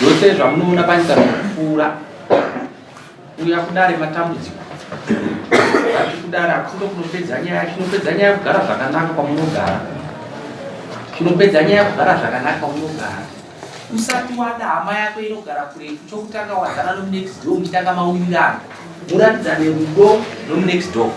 zvose zvamunoona panyika zvakupfuura uya kudare matambudziko ati kudare hakusindo kunopedza nyaya chinopedza nyaya kugara zvakanaka kwamunogara chinopedza nyaya kugara zvakanaka kwamunogara Usati wada hama yako inogara kuretu chokutanga wazana nomunext door muchitanga mawirirano muratidzane rudo nomunext door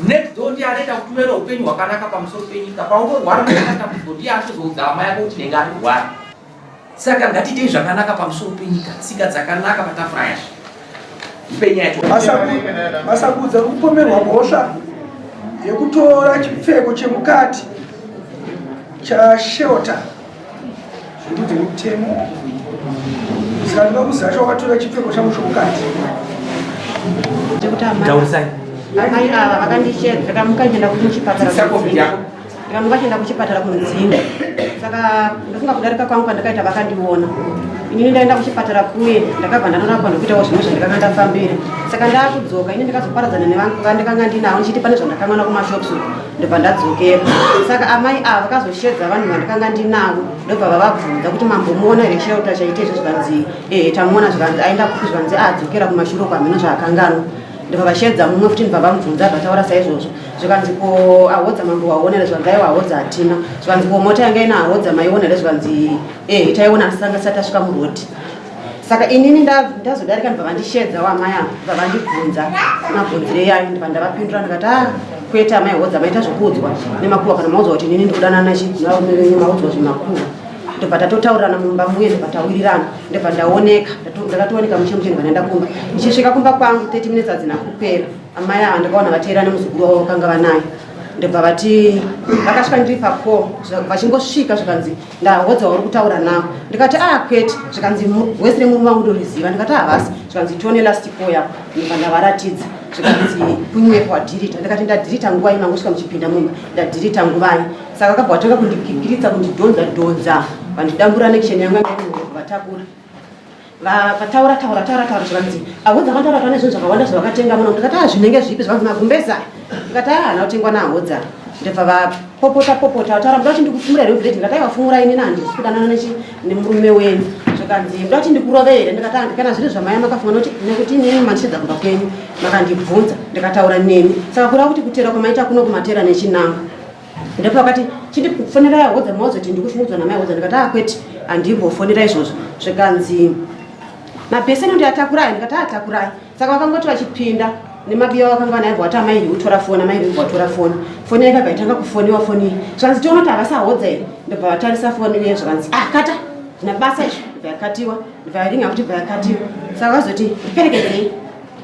next door ndiye anoita kuti uve noupenyu hwakanaka pamusoro penyika paunorwara uaatambudziko ndiye anozoudza hama yako kuti nenge anorwara saka ngatiitei zvakanaka pamusoro penyika tsika dzakanaka patafura yacho Masakudza kupomerwa mhosva yekutora chipfeko chemukati chashelter zvekunze kwemutemo zikanoda kuzasha wakatora chipfeko changu chomukati taurisai amai ava vakandichedzera mukaenda kuchipatara vamwe vachienda kuchipatara kunodzinda saka ndofunga kudarika kwangu kwandakaita vakandiona inini ndaenda kuchipatara kuye ndakabva ndanorapwa ndokuitawo zvimwe zvandikanga ndafambira saka ndaakudzoka ini ndikazoparadzana nevanhu vandikanga ndinavo ndichiti pane zvandakanwana kumashops ndobva ndadzokera saka amai ava vakazoshedza vanhu vandikanga ndinavo ndobva vavabvunza kuti mambomuona here chirauta chaite izvo zvikanzi ehe tamuona zvikanzi aenda kupi zvikanzi adzokera kumashuro kwamheno zvaakanganwa ndobva vashedza mumwe futi ndobva vamubvunza vataura saizvozvo zvikanzi ko ahodza mambo waona here zvikanzi aiwa ahodza hatina zvikanzi ko mota yanga ina ahodza maiona here zvikanzi eh hitaiona asi sanga sati asvika muroti saka inini ndazodarika ndibva vandishedza wamai ava ndibva vandibvunza mabvunzire yayo ndibva ndavapindura ndikati a ah, kwete amai hodza maita zvokuudzwa nemakuva kana maudzwa kuti inini ndikudanana chivarume venyu maudzwa zvemakuva ndobva tatotaurirana mumba muye ndobva tawirirana ndobva ndaoneka ndakatooneka mushe mushe ndibva ndaenda kumba ndichisvika kumba kwangu 30 minutes adzina kupera Amai ava ndakaona vateera nemuzukuru wavo vakanga vanaye ndobva vati vakasvika ndiri pako vachingosvika zvikanzi ndahodza wauri kutaura nawo ndikati a ah, kwete zvikanzi wese remurume vangu ndoriziva ndikati havasi ah, zvikanzi tione lastiko yako ndobva ndavaratidza zvikanzi kunyepo wadhirita ndikati ndadhirita nguva i mangosvika muchipinda mumba ndadhirita nguvai saka akabva vatanga kundikikiritsa kundidhonza dhonza vandidambura nekisheni yangu vatakura vakataura taura taura taura zvikanzi ahodza vataura taura nezvinhu zvakawanda zvavakatenga muno ndikati a zvinenge zvipi zvikanzi magumbeza ndikati a hana kutengwa naahodza ndibva vapopota popota vataura muda kuti ndikufumura here village ndikati aivafumura ini nandi kudanana nemurume wenyu zvikanzi muda kuti ndikurove here ndikati andi kana zviri zvamaya makafuma noti nekuti inini mandichidza kumba kwenyu makandibvunza ndikataura nemi saka kureva kuti kutera kwamaita kuno kumatera nechinanga ndipo akati chiti kufonera yahodza maozoti ndikushungudzwa namai hodza ndikati akweti ah, handimbofonera izvozvo zvikanzi mabheseni ndi atakurai ndikati atakurai saka vakangoti vachipinda nemabiya vakanga vanaibva wati amai ndi kutora foni amai ndi kuvatora foni foni yaika kaitanga kufoniwa foni iyi zvikanzi tiona kuti havasahodza here ndobva vatarisa foni iye zvikanzi ah kata ndina basa izvo ndibva yakatiwa ndibva yaringa kuti bva yakatiwa saka vazoti ndiperekedei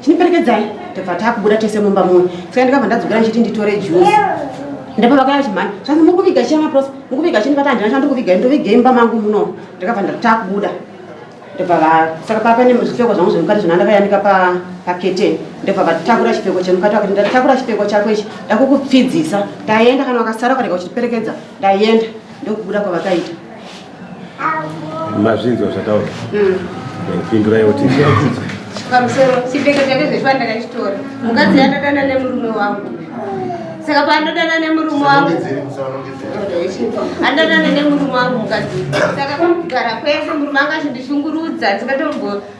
chiniperekedzai tobva takubuda tese mumba muno saka ndikabva ndadzokera ndichiti nditore juzi ndapa vakaya chimhani zvanzi muri kuviga chiya maprosa muri kuviga chini vati handina chandiri kuviga ndovige imba mangu muno ndikabva ndatakubuda ndobva saka papa ne zvipfeko zvangu zvemukati zvona ndakayanika pakete ndobva vatakura chipfeko chemukati vakati ndatakura chipfeko chako ichi ndakukupfidzisa ndaenda kana wakasara ukarega uchitiperekedza ndaenda ndokubuda kwavakaita mazvinzwa zvataura mm. pindurai kuti pamusoro chipfeko chake zvechiva ndakachitora mukadzi yandadana nemurume wangu saka pandodana nemurume wangu andadana nemurume wangu mukadzi saka kugara kwese murume anga achindishungurudza tikatombo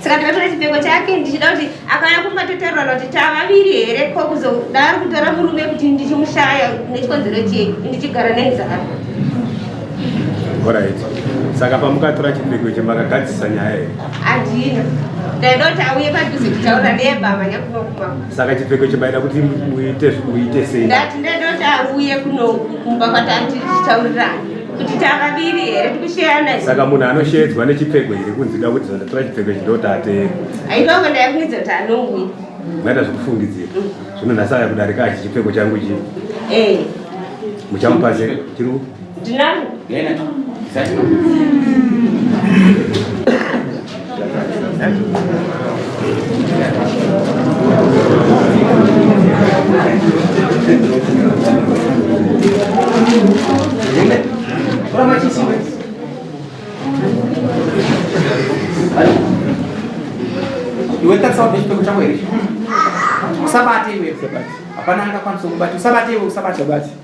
saka takatora chipfeko chake ndichida kuti akauya kumatotaurana kuti tavaviri here ko kuzodaro kutora murume kuti ndichimushaya nechikonzero chei ndichigara nenzara orit saka pamukatora chipfeko icho makagadzisa nyaya here handina ndaida kuti auye padhuze kutaura nebamanya kunokuba saka chipfeko icho maida kuti muite sei ndati ndaida kuti auye kunokumba kwatati tichitaurirana kuti tavaviri here tikusheyana saka munhu anoshedzwa nechipfeko here kunzi da kuti zvandatora chipfeko ichi ndoti ateere aivavo ndayakunidza kuti anongwi maita zvekufungidzira zvino nhasi aya kudarika achi chipfeko changu chi eh. muchamupa se chiri ndinangu iwe tarisawo nechipfeko chako here usabate iwe hapana angakwanisa kubata usabate iwe usabate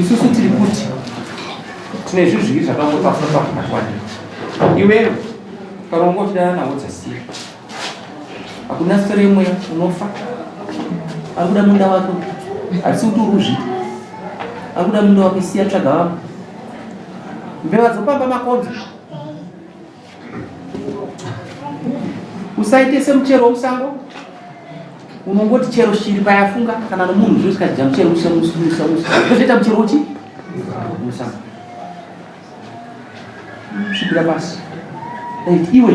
isusu tiri kuti tine zvinhu zviviri zvakangotaura pakuvakwana iwewe ukaronga uchidana nawo dzasiya hakuna sito remweya unofa ari kuda munda wako hatisi kuti uruzvi ari kuda munda wako siya tsvaga vamwe mbeva dzopamba makonzo usaite semuchero womusango unongoti chero shiri payafunga kana nomunhu zvino zvikadya muchero usaita muchero uchi musango svipira pasi iwe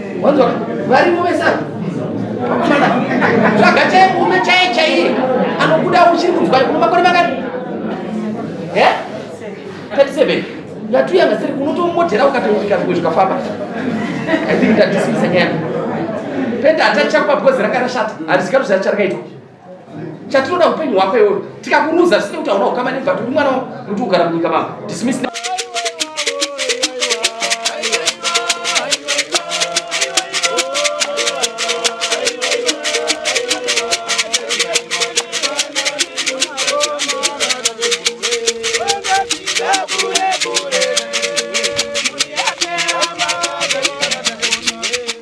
Wanzwa varimo vese ava. Wakomana. Tsvaga chaye murume chaye chaiye anokuda uchiri kunzwa kuno makore makati. Eh? 37. Ngatu yanga siri unotomodhera ukati ukazwe zvikafamba. I think that this is a game. Penda atacha kwa because ranga rashata. Harisikaru zvacharikaitwa. chatinoda upenyu hwako iwoyo tikakuruza zvisina kuti hauna ukama nebva turi mwana kuti ugara munyika mako dismiss